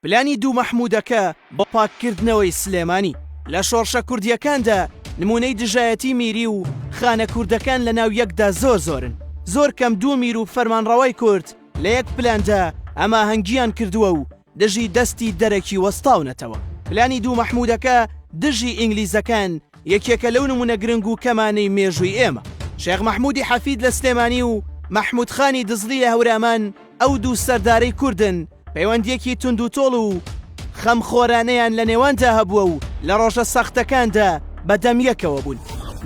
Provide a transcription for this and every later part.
پلانی دوو مەحموودەکە بۆ پاککردنەوەی سلێمانی لە شۆڕشە کوردییەکاندا نموونەی دژایەتی میری و خانە کوردەکان لە ناو یەکدا زۆر زۆرن. زۆر کەم دوو میر و فەرمانڕەوای کورد لە یەک پلاندا هەماهەنگییان کردووە و دژی دەستی دەرەکی وەستاونەتەوە. پلانی دوو مەحموودەکە دژی ئینگلیزەکان یەکێکە لەو نموونە گرنگ و کەمانەی مێژووی ئێمە. شێخ مەحموودی حەفید لە سلێمانی و مەحموود خانی دزڵی لە هەورامان، ئەو دوو سەردارەی کوردن پەیوەندییەکی توندوتۆڵ و خەمخۆرانەیان لە نێواندا هەبووە و لە ڕۆژە سەختەکاندا بە دەم یەکەوە بوون.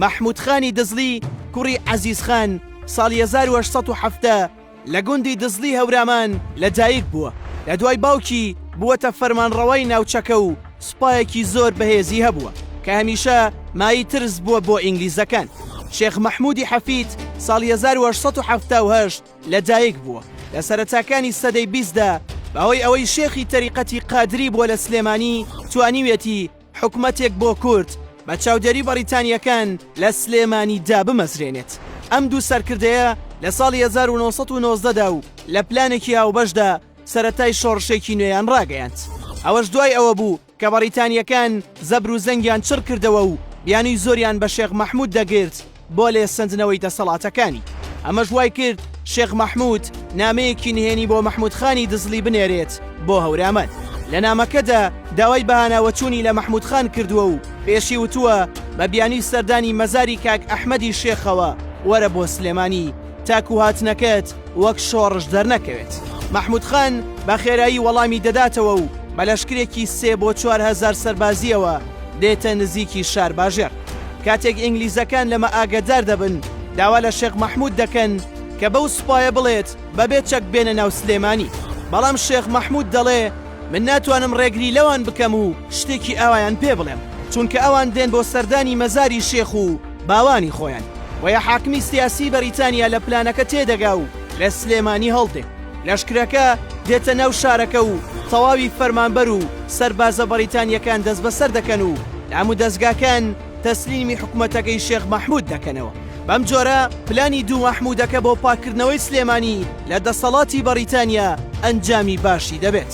مەحموود خانی دزڵی کوڕی عەزیز خان ساڵی 1870 لە گوندی دزڵی هەورامان لە دایک بووە، لە دوای باوکی بووەتە فەرمانڕەوای ناوچەکە و سوپایەکی زۆر بەهێزی هەبووە کە هەمیشە مایەی ترس بووە بۆ ئینگلیزەکان. شێخ مەحموودی حەفید ساڵی 1878، لەدایک بووە، لە سەرەتاکانی سەدەی بیستدا بەهۆی ئەوەی شێخی تەریقەتی قادری بووە لە سلێمانی توانیویەتی حکومەتێک بۆ کورد بە چاودێری بەڕیتانییەکان لە سلێمانی دابمەزرێنێت ئەم دوو سەرکردەیە لە ساڵی 1990 دا و لە پلانێکی هاوبەشدا سەرەتای شۆڕشێکی نوێیان ڕاگەیاند ئەوەش دوای ئەوە بوو کە بەڕیتانییەکان زەبر و زەنگیان چڕ کردەوە و بیانووی زۆریان بە شێخ مەحموود دەگرت بۆ لێ سەندنەوەی دەسەڵاتەکانی. ئەمەش وای کرد شێخ مەحموود نامەیەکی نهێنی بۆ مەحموود خانی دزڵی بنێرێت بۆ هەورامان. لە نامەکەدا داوای بەهاناوەچوونی لە مەحموود خان کردووە و پێشی وتووە بە بیانووی سەردانی مەزاری کاک ئەحمەدی شێخەوە وەرە بۆ سلێمانی تاکو هاتنەکەت وەک شۆڕش دەرنەکەوێت مەحمود خان بە خێرایی وەڵامی دەداتەوە و بە لەشکرێکی سێ بۆ چوارهزار سەربازیەوە دێتە نزیکی شار باژێر کاتێک ئینگلیزەکان لەمە ئاگدار دەبن داوا لە شێخ مەحمود دەکەن کە بەو سوپایە بڵێت بەبێ چەک بێنە ناو سلێمانی بەڵام شێخ مەحمود دەڵێ من ناتوانم ڕێگری لەوان بکەم و شتێکی ئاوایان پێ بڵێم چونکە ئەوان دێن بۆ سەردانی مەزاری شێخ و باوانی خۆیان بۆیە حاکمی سیاسی بەریتانیا لە پلانەکە تێدەگا و لە سلێمانی هەڵدێ لەشکرەکە دێتە ناو شارەکە و تەواوی فەرمانبەر و سەربازە بەریتانیەکان دەست بەسەر دەکەن و دام و دەستگاکان تەسلیمی حکوومەتەکەی شێخ مەحمود دەکەنەوە بەم جۆرە پلانی دوو مەحمودەکە بۆ پاکردنەوەی سلێمانی لە دەسەڵاتی بەریتانیا ئەنجامی باشی دەبێت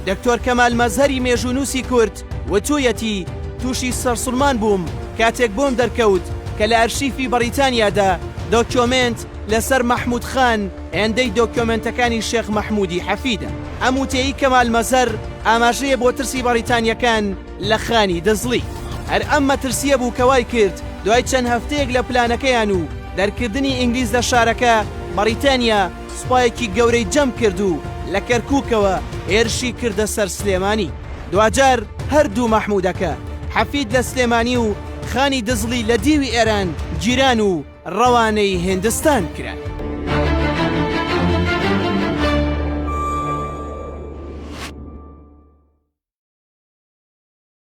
دکتۆر کەمال مەزهری مێژوونووسی کورد وتوویەتی، تووشی سەرسوڕمان بووم کاتێک بۆم دەرکەوت کە لە ئەرشیفی بەڕیتانیادا دۆکیۆمێنت لەسەر مەحموود خان هێندەی دۆکیۆمێنتەکانی شێخ مەحموودی حەفیدە. ئەم وتەیەی کەمال مەزەر ئاماژەیە بۆ ترسی بەڕیتانییەکان لە خانی دزڵی. هەر ئەم مەترسییە بوو کە وای کرد دوای چەند هەفتەیەک لە پلانەکەیان و دەرکردنی ئینگلیز لە شارەکە، بەڕیتانیا، سوپایەکی گەورەی جەم کرد و لە کەرکووکەوە هێرشی کردە سەر سلێمانی. دواجار هەر دوو مەحموودەکە، حەفید لە سلێمانی و خانی دزڵی لە دیوی ئێران گیران و ڕەوانەی هیندستان کران.